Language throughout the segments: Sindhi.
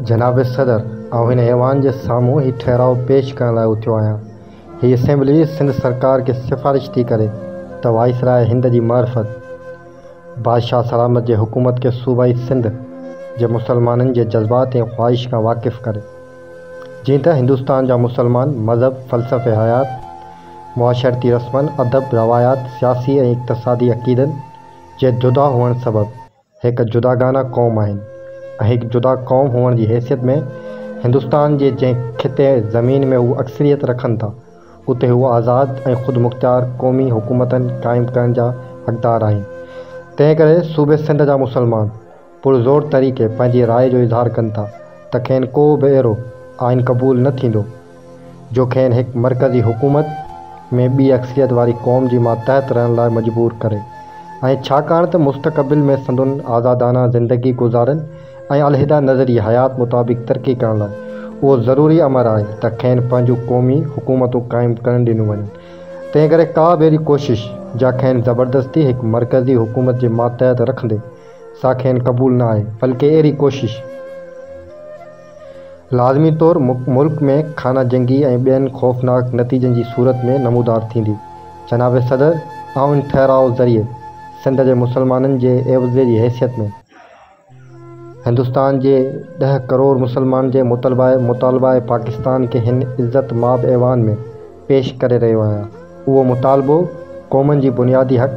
جناب صدر، آئون هن ايوان جي سامهون هي ٺهراء پيش ڪرڻ لاء اٿيو آهيان. هي اسيمبلي سنڌ سرڪار کي سفارش ٿي ڪري ته وائسراء هند جي معرفت بادشاهه سلامت جي حڪومت کي صوبائي سنڌ جي مسلمانن جي جذبات ۽ خواهش کان واقف ڪري. جيئن ته هندستان جا مسلمان مذهب، فلسفي حيات، معاشرتي رسمن، ادب، روايات، سياسي ۽ اقتصادي عقيدن، جي جدا هئڻ سبب هڪ جداگانه قوم آهن ۽ هڪ جدا قوم هئڻ جي حيثيت ۾ هندستان جي جنهن خطي زمين ۾ هو اڪثريت رکن ٿا، اتي هو آزاد ۽ خودمختيار قومي حڪومتن قائم ڪرڻ جا حقدار آهن. تنهنڪري صوبي سنڌ جا مسلمان. پرزور طريقي پنهنجي راء جو اظهار ڪن ٿا ته کين ڪو به اهڙو آئين قبول نه ٿيندو جو کين هڪ مرڪزي حڪومت ۾ ٻي اڪثريت واري قوم جي ماتحت رهڻ لاء مجبور ڪري ۽ ڇاڪاڻ ته مستقبل ۾ سندن آزادانه زندگي گذارن ۽ علحده نظري حيات مطابق ترقي ڪرڻ لاء اهو ضروري امر آهي ته کين پنهنجون قومي حڪومتون قائم ڪرڻ ڏنيون وڃن تنهنڪري ڪا به اهڙي ڪوشش جا کين زبردستي هڪ مرڪزي حڪومت جي ماتحت رکندي سا کين قبول نه آهي بلڪه اهڙي ڪوشش لازمي طور ملڪ ۾ خانه جنگي ۽ ٻين خوفناڪ نتيجن جي صورت ۾ نمودار ٿيندي. جناب صدر آئون ٺهراء ذريعي سنڌ جي مسلمانن جي عيوضي جي حيثيت ۾ هندستان جي ڏهه ڪروڙ مسلمانن جي مطلبه مطالبه پاڪستان کي هن عزت ماب ايوان ۾. پيش ڪري رهيو آهيان. اهو مطالبو قومن جي بنيادي حق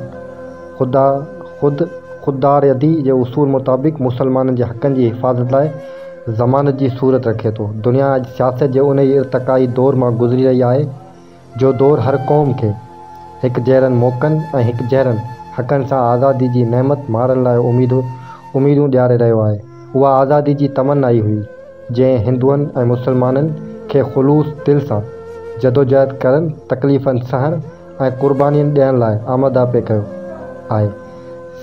خدا خود خودارادي جي اصول مطابق مسلمانن جي حقن جي حفاظت لاء ضمانت جي صورت رکي ٿو. دنيا اڄ سياست جي انهي ارتقائي دور مان گذري رهي آهي، جو دور هر قوم کي هڪ جهڙن موقعن ۽ هڪ جهڙن حقن سان آزادي جي نعمت ماڻڻ لاء اميدون اميدون ڏياري رهيو آهي. اها آزادي جي تمنا ئي هئي. جنهن هندوئن ۽ مسلمانن کي خلوص دل سان جدوجهد ڪرڻ، تڪليفن سهڻ ۽ قربانين ڏيڻ لاء آماده پئي ڪيو آهي.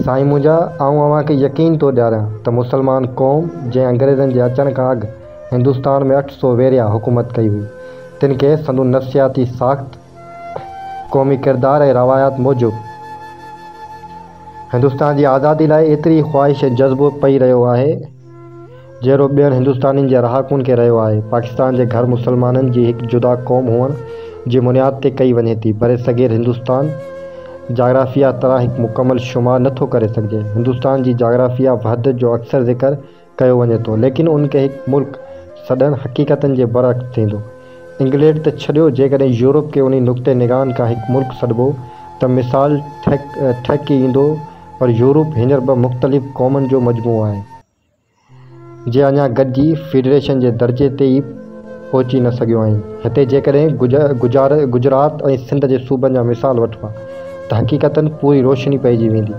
سائين منهنجا، آئون اوهان کي يقين ٿو ڏياريان ته مسلمان قوم جنهن انگريزن جي اچڻ کان اڳ هندستان ۾ اٺ سو ويريا حڪومت ڪئي هئي، تن کي سندن نفسياتي ساخت، قومي ڪردار ۽ روايات موجب هندستان جي آزادي لاء ايتري خواهش ۽ جذبو پئي رهيو آهي، جهڙو ٻين هندستانين جي رهاڪن کي رهيو آهي. پاڪستان جي گهر مسلمانن جي هڪ جدا قوم هئڻ جي بنياد تي ڪئي وڃي ٿي. برصغير هندستان جاگرافيا طرح هڪ مڪمل شمار نه ٿو ڪري سگهجي. هندستان جي جاگرافيا وحدت جو اڪثر ذڪر ڪيو وڃي ٿو، ليڪن ان کي هڪ ملڪ سڏڻ حقيقتن جي برعڪس ٿيندو. انگليڊ ته ڇڏيو، جيڪڏهن يورپ کي انهي نقطه نگاهن کان هڪ ملڪ سڏبو ته مثال ٺهڪي ايندو پر يورپ هينئر ٻه مختلف قومن جو مجموعو آهي، جي اڃا گڏجي فيڊريشن جي درجي تي ئي پهچي نه سگهيون آهن. هتي جيڪڏهن گجرات ۽ سنڌ جي صوبن جا مثال وٺبا ته حقيقتاً پوري روشني پئجي ويندي.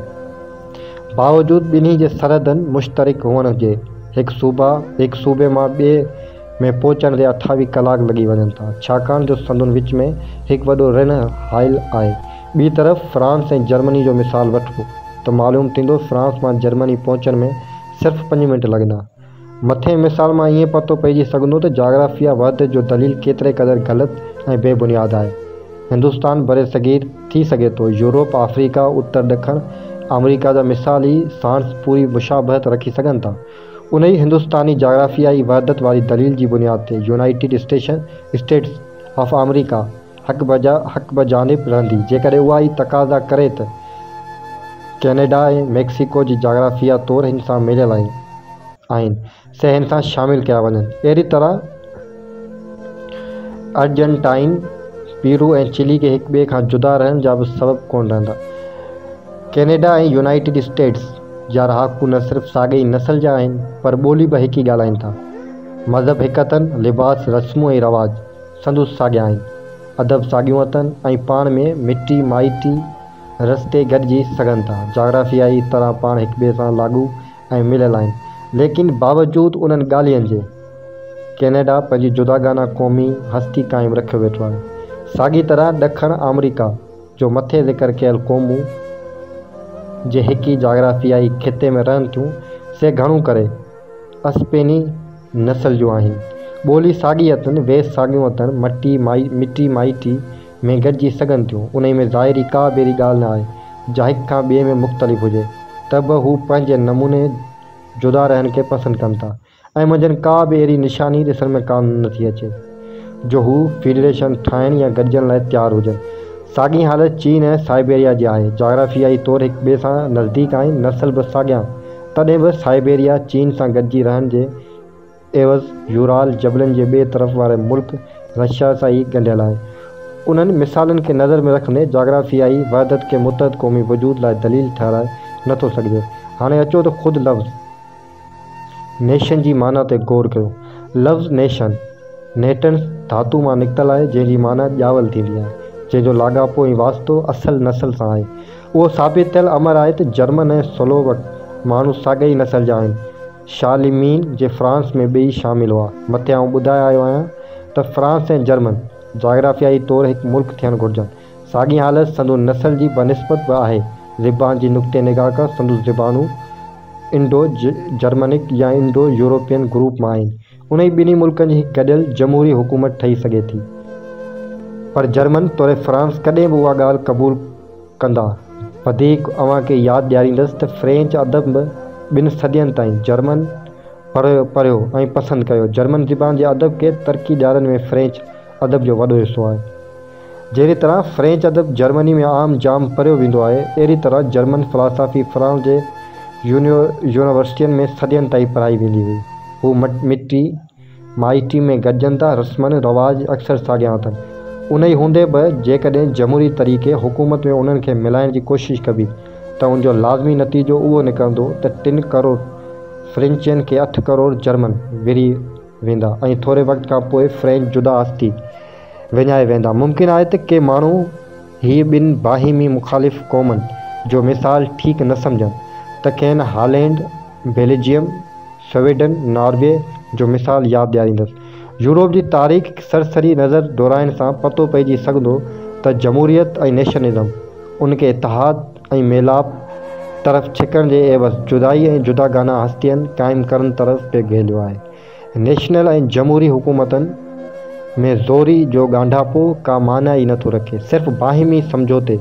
باوجود ٻنهي جي سرحدن مشترڪ هئڻ جي، هڪ صوبا هڪ صوبي مان ٻئي ۾ پهچڻ تي اٺاويهه ڪلاڪ لڳي وڃن ٿا، ڇاڪاڻ جو سندن وچ ۾ هڪ وڏو رڻ هائل آهي. ٻي طرف فرانس ۽ جرمني جو مثال وٺبو ته معلوم ٿيندو فرانس مان جرمني پهچڻ ۾ صرف پنج منٽ لڳندا. مٿئين مثال مان ائين پتو پئجي سگهندو ته جاگرافيا وحدت جو دليل ڪيتري قدر غلط ۽ بي بنياد آهي. هندستان، برصغير، ٿي سگهي ٿو يورپ، آفريڪا، اتر ڏکڻ آمريڪا جا مثال ئي ساڻس پوري مشابهت رکي سگهن ٿا. انهيء هندستاني جاگرافيائي وحدت واري دليل جي بنياد تي يونائيٽيڊ اسٽيشن، اسٽيٽس، آف آمريڪا حق بجا حق بجانب رهندي، جيڪڏهن اها ئي تقاضا ڪري ته ڪينيڊا ۽ ميڪسيڪو جي جاگرافيا طور هن سان مليل آهن آهن سي هن سان شامل ڪيا وڃن. اهڙي طرح ارجنٽائن، پيرو ۽ چلي کي هڪ ٻئي کان جدا رهڻ جا به سبب ڪونه رهندا. Canada ۽ United States. جا رهاڪو نه صرف ساڳئي ئي نسل جا آهن پر ٻولي به هڪ ئي ڳالهائين ٿا. مذهب هڪ اٿن، لباس، رسمون ۽ رواج سندس ساڳيا آهن، ادب ساڳيون اٿن ۽ پاڻ ۾ مٽي مائٽي رستي گڏجي سگهن ٿا، جاگرافيائي طرح پاڻ هڪٻئي سان لاڳو ۽ مليل آهن، ليڪن باوجود انهن ڳالهين جي ڪينيڊا پنهنجي جداگانه قومي هستي قائم رکيو ويٺو آهي، ساڳي طرح ڏکڻ آمريڪا. جو مٿي ذڪر ڪيل قومون جي هڪ ئي جاگرافيائي خطي ۾ رهن ٿيون، سي گهڻو ڪري اسپيني نسل جون آهن. ٻولي ساڳي اٿن، ويس ساڳيون اٿن، مٽي مٽي مائٽي ۾ گڏجي سگهن ٿيون، انهي ۾ ظاهري ڪا به اهڙي ڳالهه نه آهي، جا هڪ کان ٻئي ۾ مختلف هجي، ته به هو پنهنجي نموني جدا رهڻ کي پسند ڪن ٿا. ۽ منجهن ڪا به اهڙي نشاني ڏسڻ ۾ ڪا نه ٿي اچي جو هو فيڊريشن ٺاهڻ يا گڏجڻ لاء تيار هجن. ساڳئي حالت چين ۽ سائبيريا جي آهي. جاگرافيائي طور هڪ ٻئي سان نزديڪ آهن، نسل به ساڳيان، تڏهن به سائبيريا چين سان گڏجي رهڻ جي عيوض يورال جبلن جي ٻئي طرف واري ملڪ رشيا سان ئي ڳنڍيل آهي. انهن مثالن کي نظر ۾ رکندي جاگرافيائي وحدت کي متحد قومي وجود لاء دليل ٺهرائي نه ٿو سگهجي. هاڻي اچو ته خود لفظ. نيشن جي معنيٰ تي غور ڪيو. لفظ نيشن، Natans، ڌاتو مان نڪتل آهي، جنهن جي معنيٰ ڄاول ٿيندي آهي، جنهن جو لاڳاپو ۽ واسطو اصل نسل سان آهي. اهو ثابت ٿيل امر آهي ته جرمن ۽ سلووڪ ماڻهو ساڳئي نسل جا آهن. شارليمين جي فرانس ۾ ٻئي شامل هئا. مٿي آئون ٻڌائي آيو آهيان ته فرانس ۽ جرمن جاگرافيائي طور هڪ ملڪ ٿيڻ گهرجن. ساڳي حالت سندو نسل جي بنسبت به آهي. زبان جي نقطي نگاهه کان سندو زبانون انڊو جرمنڪ يا انڊو يورپين گروپ مان آهن. انهي ٻنهي ملڪن جي هڪ گڏيل جمهوري حڪومت ٺهي سگهي ٿي. پر جرمن توڙي فرانس ڪڏهن به اها ڳالهه قبول ڪندا. وڌيڪ اوهان کي ياد ڏياريندس ته فرينچ ادب به ٻن صدين تائين جرمن پڙهيو ۽ پسند ڪيو. جرمن زبان جي ادب کي ترقي ڏيارڻ ۾ فرينچ ادب جو وڏو حصو آهي. جهڙي طرح فرينچ ادب جرمني ۾ عام جام پڙهيو ويندو آهي، اهڙي طرح جرمن فلاسافي فرانس جي يونيورسٽين ۾ صدين تائين پڙهائي ويندي هئي. هو مٽي مائٽي ۾ گڏجن ٿا، رسمن رواج اڪثر ساڳيا اٿن. انهي هوندي به جيڪڏهن جمهوري طريقي حڪومت ۾ انهن کي ملائڻ جي ڪوشش ڪبي ته ان جو لازمي نتيجو اهو نڪرندو ته ٽن ڪروڙ فرينچين کي اٺ ڪروڙ جرمن وري ويندا ۽ ٿوري وقت کان پوء فرينچ جدا ٿي وڃائي ويندا. ممڪن آهي ته ڪي ماڻهو هيء ٻن باهمي مخالف قومن جو مثال ٺيڪ نه سمجهن ته کين هالينڊ، بيلجيم، سويڊن، ناروي جو مثال ياد ڏياريندس. يورپ جي تاريخ سرسري نظر دورائڻ سان پتو پئجي سگهندو ته جمهوريت ۽ نيشنلزم ان کي اتحاد، ۽ ميلاپ طرف ڇڪڻ جي عيوض جدائي ۽ جداگانه هستين قائم ڪرڻ طرف پئي گهيليو آهي. نيشنل ۽ جمهوري حڪومتن ۾ زوري جو ڳانڍاپو ڪا معنيٰ ئي نه ٿو رکي. صرف باهمي سمجهوتي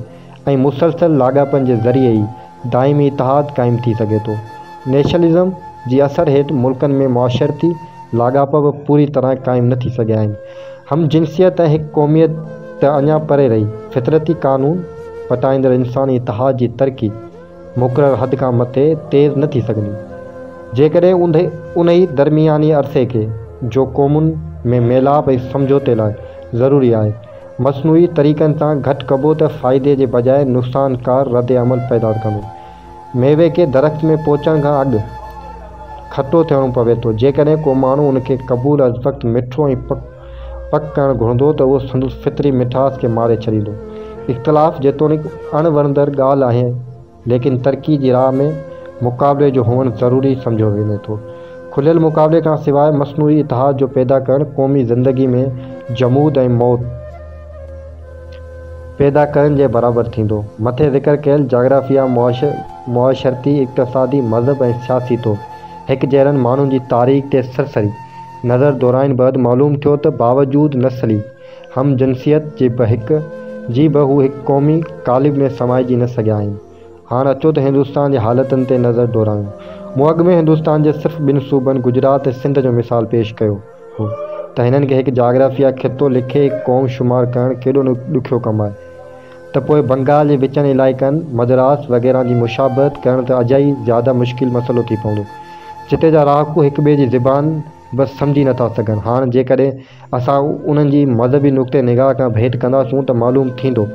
۽ مسلسل لاڳاپن جي ذريعي ئي دائمي اتحاد قائم ٿي سگهي ٿو. نيشنلزم جي اثر هيٺ ملڪن ۾ معاشرتي لاڳاپا به پوري طرح قائم نه ٿي سگهيا آهن. هم جنسيت ۽ هڪ قوميت ته اڃا پري رهي، فطرتي قانون پٽائيندڙ انساني اتحاد جي ترقي مقرر حد کان مٿي تيز نه ٿي سگهندي، جيڪڏهن انهي درمياني عرصي کي، جو قومن ۾ ميلاپ ۽ سمجهوتي لاء ضروري آهي، مصنوعي طريقن سان گهٽ ڪبو ته فائدي جي بجاء نقصانڪار رد عمل پيدا ڪندو. ميوي کي درخت ۾ پهچڻ کان اڳ کٽو ٿيڻو پوي ٿو. جيڪڏهن ڪو ماڻهو ان کي قبول از وقت مٺو ۽ پڪ پڪ ڪرڻ گهرندو ته اهو سندس فطري مٺاس کي ماري ڇڏيندو. اختلاف جيتوڻيڪ اڻ وڻندڙ ڳالهه آهي ليڪن ترقي جي راهه ۾ مقابلي جو هئڻ ضروري سمجهيو وڃي ٿو. کليل مقابلي کان سواء مصنوعي اتحاد جو پيدا ڪرڻ قومي زندگي ۾ جمود ۽ موت. پيدا ڪرڻ جي برابر ٿيندو. مٿي ذڪر ڪيل جاگرافيا، معاشرتي، اقتصادي، مذهب ۽ سياسي طور هڪجهڙن ماڻهن جي تاريخ تي سرسري نظر دورائڻ بعد معلوم ٿيو ته باوجود نسلي هم جنسيت جي جي به هو هڪ قومي قالب ۾ سمائجي نه سگهيا آهن. هاڻ اچو ته هندستان جي حالتن تي نظر دورائيون. مون اڳ ۾ هندستان جي صرف ٻن صوبن گجرات ۽ سنڌ جو مثال پيش ڪيو. هو ته هنن کي هڪ جاگرافيا خطو لکي قوم شمار ڪرڻ ڪيڏو نه ڏکيو ڪم آهي ته پوء بنگال جي وچن علائقن، مدراس وغيره جي مشابهت ڪرڻ ته اجائي زياده مشڪل مسئلو ٿي پوندو جتي جا رهاڪو هڪ ٻئي جي زبان به سمجهي نه ٿا سگهن. هاڻ جيڪڏهن اسان انهن جي مذهبي نقطه نگاهه کان ڀيٽ ڪنداسون ته معلوم ٿيندو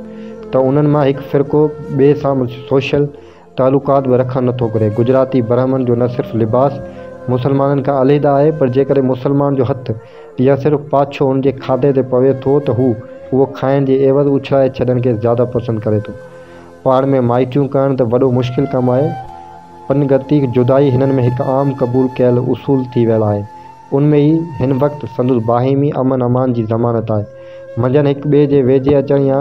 ته انهن مان هڪ فرقو ٻئي سان سوشل تعلقات به رکڻ نٿو گهري. گجراتي برهمڻ جو نه صرف لباس مسلمانن کان عليحده آهي پر جيڪڏهن مسلمان جو هٿ يا صرف پاڇو هن جي کاڌي تي پوي ٿو ته هو اهو کائڻ جي عيوض اڇلائي ڇڏڻ کي زياده پسند ڪري ٿو. پاڻ ۾ مائٽيون ڪرڻ ته وڏو مشڪل ڪم آهي. پنگتي جدائي هنن ۾ هڪ عام قبول ڪيل اصول ٿي ويل آهي. ان ۾ ئي هن وقت سندس باهمي امن امان جي ضمانت آهي. منجهن هڪ ٻئي جي ويجهي اچڻ يا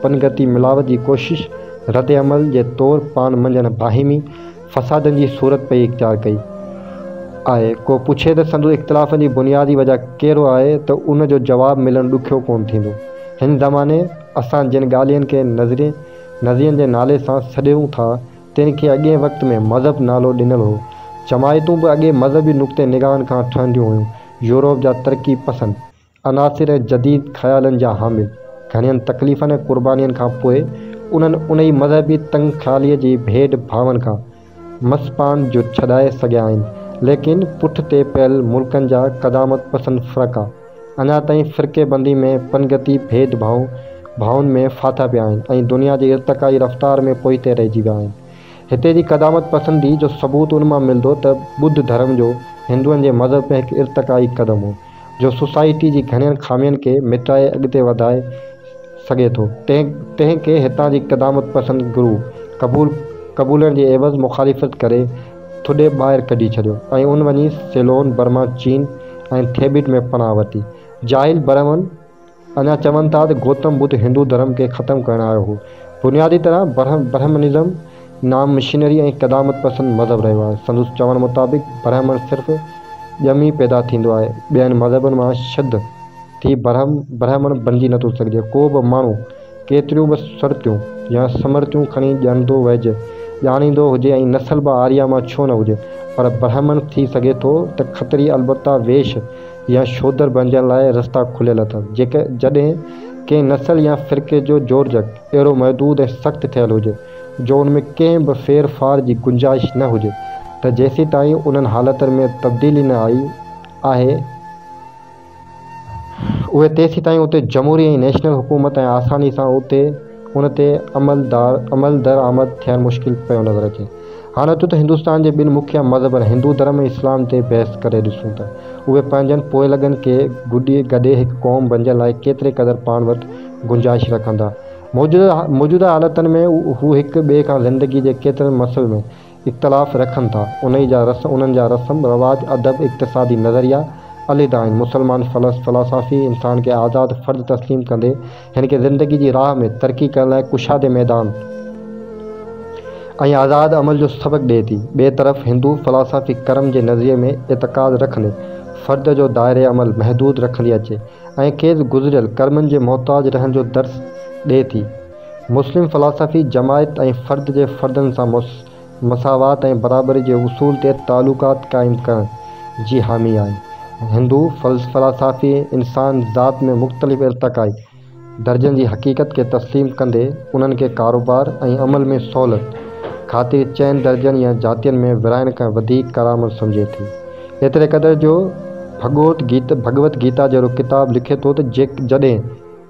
پنگتي ملاوت جي ڪوشش رد عمل جي طور پاڻ منجهن باهمي فسادن جي صورت پئي اختيار ڪئي آهي. ڪو پڇي ته سندس اختلافن جي بنيادي وجهه ڪهڙو آهي ته ان جو جواب ملڻ ڏکيو ڪونه ٿيندو. هن زماني اسان جن ڳالهين کي نظرين جي نالي سان سڏيون ٿا، تن کي اڳئين وقت ۾ مذهب نالو ڏنل هو. جماعتون به اڳئين مذهبي نقطه نگاهن کان ٺهنديون هيون. يورپ جا ترقي پسند عناصر ۽ جديد خيالن جا حامل گهڻين تڪليفن ۽ قربانين کان پوء انهن انهي مذهبي تنگ خياليء جي ڀيڏ ڀاون کان مس پاڻ جو ڇڏائي سگهيا آهن ليڪن پٺ تي پيل ملڪن جا قدامت پسند فرقا اڃا تائين فرقي بندي ۾ پنگتي ڀيد ڀاء ڀائن ۾ ڦاٿا پيا آهن ۽ دنيا جي ارتقائي رفتار ۾ پوئتي رهجي ويا آهن. هتي جي قدامت پسندي جو ثبوت ان مان ملدو ته ٻڌ ڌرم جو هندوئن جي مذهب ۾ هڪ ارتقائي قدم هو جو سوسائٽي جي گهڻين خامين کي مٽائي اڳتي وڌائي سگهي ٿو تنهن تنهن کي هتان جي قدامت پسند گرو قبول قبولڻ جي عيوض مخالفت ڪري ٿڏي ٻاهر ڪڍي ڇڏيو ۽ ان وڃي سيلون، برما، چين ۽ ٿيبيٽ ۾ پناهه ورتي. جاهل برهمن اڃا چون ٿا ته گوتم ٻڌ هندو ڌرم کي ختم ڪرڻ آيو هو. بنيادي طرح برهمنزم نام مشنري ۽ قدامت پسند مذهب رهيو آهي. سندس چوڻ مطابق برهمڻ صرف ڄمي پيدا ٿيندو آهي، ٻين مذهبن مان شڌ ٿي برهمڻ بنجي نٿو سگهجي. ڪو به ماڻهو. ڪيتريون به سرتيون يا سمرتيون کڻي ڄڻندو ويڄ ڄاڻيندو هجي ۽ نسل به آريا مان ڇو نه هجي پر برهمڻ ٿي سگهي ٿو ته کتري البته ويش يا شودر بڻجڻ لاء رستا کليل اٿس جيڪجڏهن ڪنهن نسل يا فرقي جو جوڙجڪ اهڙو محدود ۽ سخت ٿيل هجي جو ان ۾ ڪنهن به ڦير ڦار جي گنجائش نه هجي ته جيسيتائين انهن حالتن ۾ تبديلي نه آئي آهي اهي تيسيتائين اتي جمهوري ۽ نيشنل حڪومت ۽ آساني سان اتي ان تي عملدرآمد ٿيڻ مشڪل پيو نظر اچي. هاڻ اچو ته هندستان جي ٻن مکيه مذهبن هندو ڌرم ۽ اسلام تي بحث ڪري ڏسون ته اهي پنهنجن پوئلڳن کي گڏي هڪ قوم بنجڻ لاء ڪيتري قدر پاڻ وٽ گنجائش رکندا. موجوده حالتن ۾ هو هڪ ٻئي کان زندگي جي ڪيترن مسئلن ۾. اختلاف رکن ٿا، انهي جا رس، انهن جا رسم، رواج، ادب، اقتصادي نظريا عليحده آهن. مسلمان فلس، فلاسافي، انسان کي آزاد فرد تسليم ڪندي، هن کي زندگي جي راهه ۾ ترقي ڪرڻ لاء ڪشادي ميدان ۽ آزاد عمل جو سبق ڏئي ٿي. ٻئي طرف هندو فلاسافي ڪرم جي نظريي ۾ اعتقاد رکندي، فرد جو دائره عمل محدود رکندي اچي ۽ کيس گذريل ڪرمن جي محتاج رهڻ جو درس ڏئي ٿي. مسلم فلاسافي جماعت ۽ فرد جي فردن سان مساوات ۽ برابري جي اصول تي تعلقات قائم ڪرڻ جي حامي آهي. هندو فلاسافي انسان ذات ۾ مختلف ارتقائي درجن جي حقيقت کي تسليم ڪندي انهن کي ڪاروبار ۽ عمل ۾ سهولت خاطر چئن درجن يا جاتين ۾ ورهائڻ کان وڌيڪ ڪارآمد سمجهي ٿي. ايتري قدر جو ڀڳوت گيتا جهڙو ڪتاب لکي ٿو ته جڏهن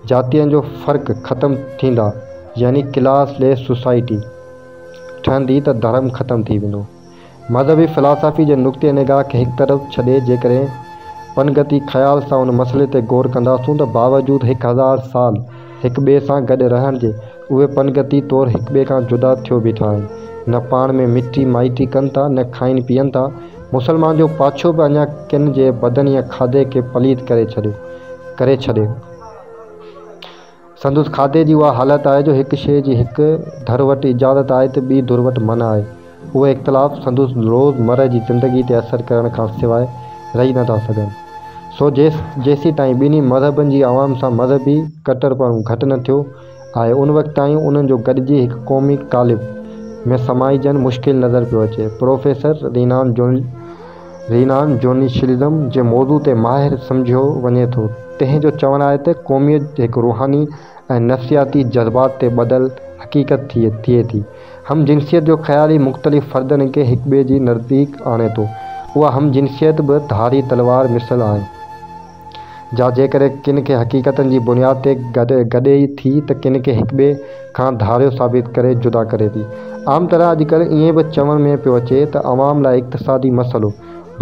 جاتين جو فرق ختم ٿيندا يعني ڪلاس ليس سوسائٽي ٺهندي ته ڌرم ختم ٿي ويندو. مذهبي فلاسافي جي نقطي نگاهه کي هڪ طرف ڇڏي جيڪڏهن پنگتي خيال سان ان مسئلي تي غور ڪنداسون ته باوجود هڪ هزار سال هڪ ٻئي سان گڏ رهڻ جي اهي پنگتي طور هڪٻئي کان جدا ٿيو بيٺا آهن. نه پاڻ ۾ مٽي مائٽي ڪن ٿا، نه کائين پيئن ٿا. مسلمان جو پاڇو به اڃا ڪن جي بدن يا کاڌي کي پليت ڪري ڇڏيو ڪري ڇڏيو. سندس کاڌي جي اها حالت آهي جو هڪ شيء جي هڪ ڌر وٽ اجازت آهي ته ٻي ڌر وٽ منع آهي. اهي اختلاف سندس روز مره جي زندگي تي اثر ڪرڻ کان سواء رهي نه ٿا سگهن. سو جيس جيسين تائين ٻنهي مذهبن جي عوام سان مذهبي ڪٽر پڻو گهٽ نه ٿيو، آهي ان وقت تائين انهن جو گڏجي هڪ قومي قالب ۾ سمائجڻ مشڪل نظر پيو اچي. پروفيسر رينان جون Renan Journalism جي موضوع تي ماهر سمجهيو وڃي ٿو تنهن جو چوڻ آهي ته قوميت هڪ روحاني ۽ نفسياتي جذبات تي ٻڌل حقيقت ٿئي ٿي. هم جنسيت جو خيال ئي مختلف فردن کي هڪٻئي جي نزديڪ آڻي ٿو. اها هم جنسيت به ڌاري تلوار مثل آهي. جا جيڪڏهن ڪن کي حقيقتن جي بنياد تي گڏي ٿي ته ڪن کي هڪٻئي کان ڌاريو ثابت ڪري جدا ڪري ٿي. عام طرح اڄڪلهه ائين به چوڻ ۾ پيو اچي ته عوام لاء اقتصادي مسئلو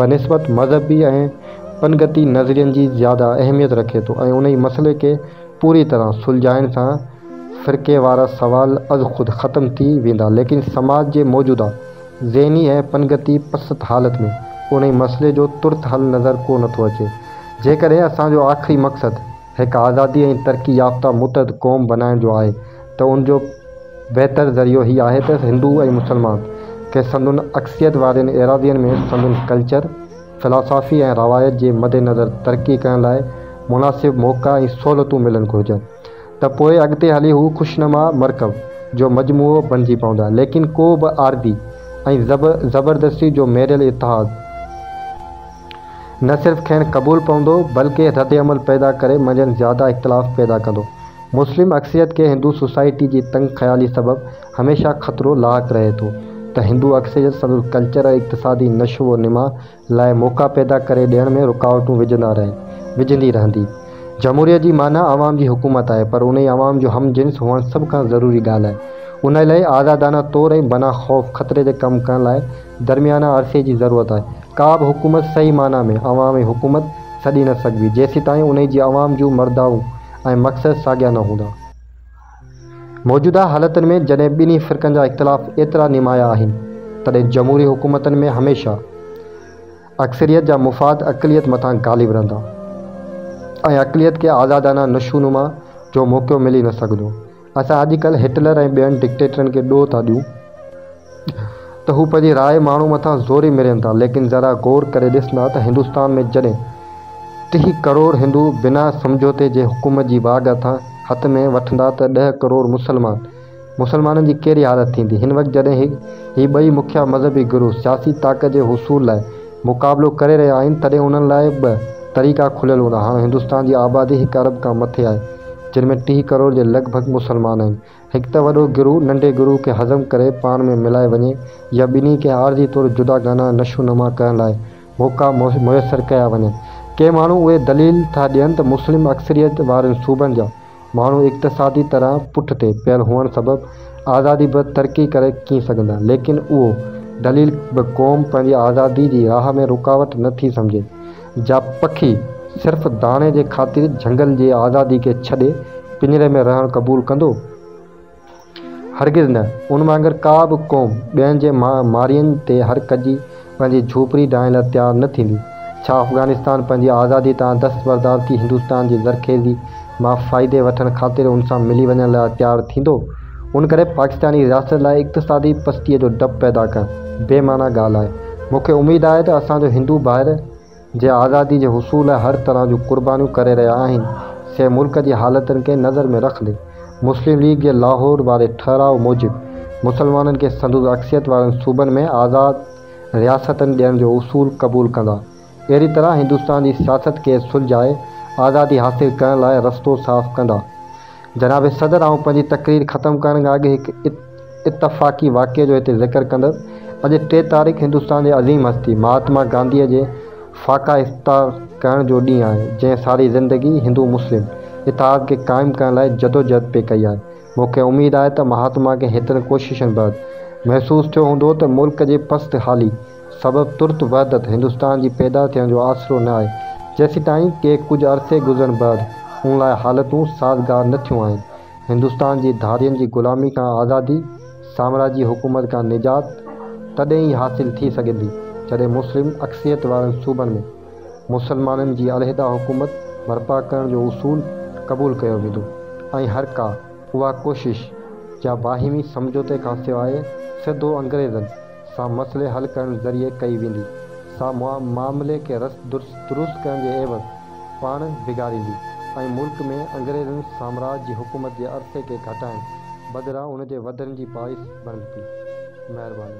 بنسبت مذهبي ۽ پنگتي نظرين جي زياده اهميت رکي ٿو ۽ انهي مسئلي کي پوري طرح سلجهائڻ سان فرقي وارا سوال ازخود ختم ٿي ويندا ليڪن سماج جي موجوده ذهني ۽ پنگتي پست حالت ۾ انهي مسئلي جو ترت حل نظر ڪو نه ٿو اچي. جيڪڏهن اسان جو آخري مقصد هڪ آزادي ۽ ترقي يافته متحد قوم بنائڻ جو آهي ته ان جو بهتر ذريعو هي آهي ته هندو ۽ مسلمان کي سندن اڪثريت وارين ايراضين ۾ سندن ڪلچر، فلاسافي ۽ روايت جي مدنظر ترقي ڪرڻ لاء مناسب موقعا ۽ سهولتون ملڻ گهرجن. ته پوء اڳتي هلي هو خوشنما مرڪب جو مجموعو بڻجي پوندا، ليڪن ڪو به عارضي ۽ زبردستي جو ميريل اتحاد نه صرف کين قبول پوندو، بلڪه ردعمل پيدا ڪري منجهن زياده اختلاف پيدا ڪندو. مسلم اڪثريت کي هندو سوسائٽي جي تنگ خيالي سبب هميشه خطرو لاحق رهي ٿو ته هندو اڪثريت سندس ڪلچر ۽ اقتصادي نشو و نما لاء موقعا پيدا ڪري ڏيڻ ۾ رڪاوٽون وجهندا رهن وجهندي رهندي. جمهوريت جي معنيٰ عوام جي حڪومت آهي پر انهي عوام جو هم جنس هئڻ سڀ کان ضروري ڳالهه آهي. انهي لاء آزادانه طور ۽ بنا خوف خطري جي ڪم ڪرڻ لاء درميانه عرصي جي ضرورت آهي. ڪا به حڪومت صحيح معنيٰ ۾ عوام ۽ حڪومت سڏي نه سگهبي جيسيتائين انهي جي عوام جون مردائون ۽ مقصد ساڳيا نه هوندا. موجوده حالتن ۾ جڏهن ٻنهي فرقن جا اختلاف ايترا نمايان آهن تڏهن جمهوري حڪومتن ۾ هميشه اڪثريت جا مفاد اقليت مٿان غالب رهندا ۽ اقليت کي آزادانه نشونما جو موقعو ملي نه سگهندو. اسان اڄڪلهه هٽلر ۽ ٻين ڊڪٽيٽرن کي ڏوهه ٿا ڏيون ته هو پنهنجي راء ماڻهو مٿان زوري مرين ٿا ليڪن ذرا غور ڪري ڏس نا ته هندوستان ۾ جڏهن ٽيهه ڪروڙ هندو بنا سمجهوتي جي حڪومت جي واڳ هٿان هٿ ۾ وٺندا ته ڏهه ڪروڙ مسلمان مسلمانن جي ڪهڙي حالت ٿيندي هن وقت جڏهن هي هي ٻئي مکيا مذهبي گروه سياسي طاقت جي حصول لاء مقابلو ڪري رهيا آهن تڏهن انهن لاء ٻه طريقا کليل هوندا هاڻ هندوستان جي آبادي هڪ ارب کان مٿي آهي جن ۾ ٽيهه ڪروڙ جي لڳ ڀڳ مسلمان آهن هڪ ته وڏو گروهه ننڍي گروهه کي هضم ڪري پاڻ ۾ ملائي وڃي يا ٻنهي کي عارضي طور جداگانه نشو نما ڪرڻ لاء موقعا ميسر ڪيا وڃن. ڪي ماڻهو اهي دليل ٿا ڏين ته مسلم اڪثريت وارن صوبن جا ماڻهو اقتصادي طرح پٺ تي پيل هئڻ سبب آزادي بغير ترقي ڪري ڪين سگهندا ليڪن اهو دليل به قوم پنهنجي آزادي جي راهه ۾ رڪاوٽ نه ٿي سمجهي جا پکي صرف داڻي جي خاطر جهنگل جي آزادي کي ڇڏي پڃري ۾ رهڻ قبول ڪندو؟ هرگز نه. ان وانگر ڪا به قوم ٻين جي مارين تي هر ڪجي پنهنجي جهوپڙي ڊاهڻ لاء تيار نه ٿيندي. ڇا افغانستان پنهنجي آزادي تان دستبردار ٿي هندستان جي زرخيزي مان فائدي وٺڻ خاطر ان سان ملي وڃڻ لاء تيار ٿيندو، ان ڪري پاڪستاني رياست لاء اقتصادي پستيء جو ڊپ پيدا ڪرڻ بي معنيٰ ڳالهه آهي. مون کي اميد آهي ته اسان جو هندو ڀائر جي آزادي جي حصول لاء هر طرح جون قربانيون ڪري رهيا آهن، سي ملڪ جي حالتن کي نظر ۾ رکندي، مسلم ليگ جي لاهور واري ٺهراء موجب مسلمانن کي سندس اڪثريت وارن صوبن ۾ آزاد رياستن ڏيڻ جو اصول قبول ڪندا، اهڙي طرح هندستان جي سياست کي سلجهائي آزادي حاصل ڪرڻ لاء رستو صاف ڪندا. جناب صدر آئون پنهنجي تقرير ختم ڪرڻ کان اڳ هڪ اتفاقي واقعي جو هتي ذڪر ڪندس. اڄ ٽي تاريخ هندستان جي عظيم هستي مهاتما گانڌيء جي فاقا افتتاح ڪرڻ جو ڏينهن آهي جنهن ساري زندگي هندو مسلم اتحاد کي قائم ڪرڻ لاء جدوجهد پئي ڪئي آهي مون کي اميد آهي ته مهاتما کي هيترن ڪوششن بعد محسوس ٿيو هوندو ته ملڪ جي پست حالي سبب ترت وحدت هندستان جي پيدا ٿيڻ جو آسرو نه آهي، جيسيتائين ڪي ڪجهه عرصي گذرڻ بعد ان لاء حالتون سازگار نه ٿيون آهن. هندستان جي ڌارين جي غلامي کان آزادي، سامراجي حڪومت کان نجات تڏهن ئي حاصل ٿي سگهندي، جڏهن مسلم اڪثريت وارن صوبن ۾ مسلمانن جي علحده حڪومت برپا ڪرڻ جو اصول قبول ڪيو ويندو ۽ هر ڪا اها ڪوشش جا باهمي سمجهوتي کان سواء سڌو انگريزن سان مسئلي حل ڪرڻ ذريعي ڪئي ويندي، سا معاملي کي رس دروس ڪرڻ جي عيوض پاڻ بگاڙيندي ۽ ملڪ ۾ انگريزن سامراج جي حڪومت جي عرصي کي گهٽائڻ بدران ان جي وڌڻ جي باعث بڻبدي. مهرباني.